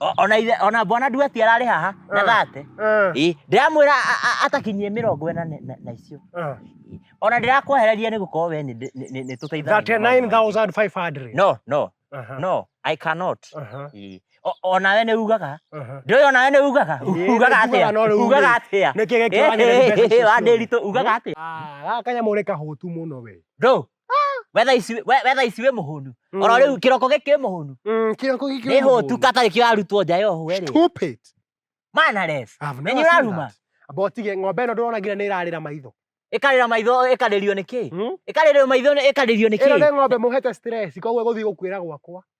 O- ona ithe ona bwana duati ararĩ haha na Eh. thate Eh, Ĩ, ndĩramwĩra a- a- atakinyie mĩrongo ĩna na- na- na icio eh. Ĩ, ona ndĩrakwehereria nĩ gũkorwo we nĩ- nĩ- nĩ- nĩ tũteithanagia na maũndũ maingĩ. 39,500. no no Aha, no i cannot aha, Ĩ, o- onawe nĩ ugaga aha. ndũĩ onawe nĩ ugaga Ĩ, nĩ ugaga atĩa njugaga, no rĩu ugaga rĩ, atĩa nĩkĩ gĩkĩ wagĩrĩire mbeca icio ciothe? wandĩritũ ugaga atĩa Ah, gaka kanyamũ nĩ kahũtu mũno we ndũ wetha ici we- wetha ici wĩ mũhũnu Mm. oro rĩu kĩroko gĩkĩ wĩ mũhũnu Mm, kĩroko gĩkĩ nĩ hũtu katarĩ kĩrarutwo nja yohũ rĩ Stupid. manares I've Nenye never seen ũraruma? that. Amba ũtige ng'ombe ĩno ndũrona nginya nĩ ĩrarĩra maitho. ĩkarĩra maitho ĩkarĩrio nĩ kĩĩ Hmm? ĩkarĩrio maitho nĩ- ĩkarĩrio nĩ Ĩno nĩ kĩĩ ng'ombe mũhete stress, koguo ĩgũthiĩ gũkuĩra gwakwa.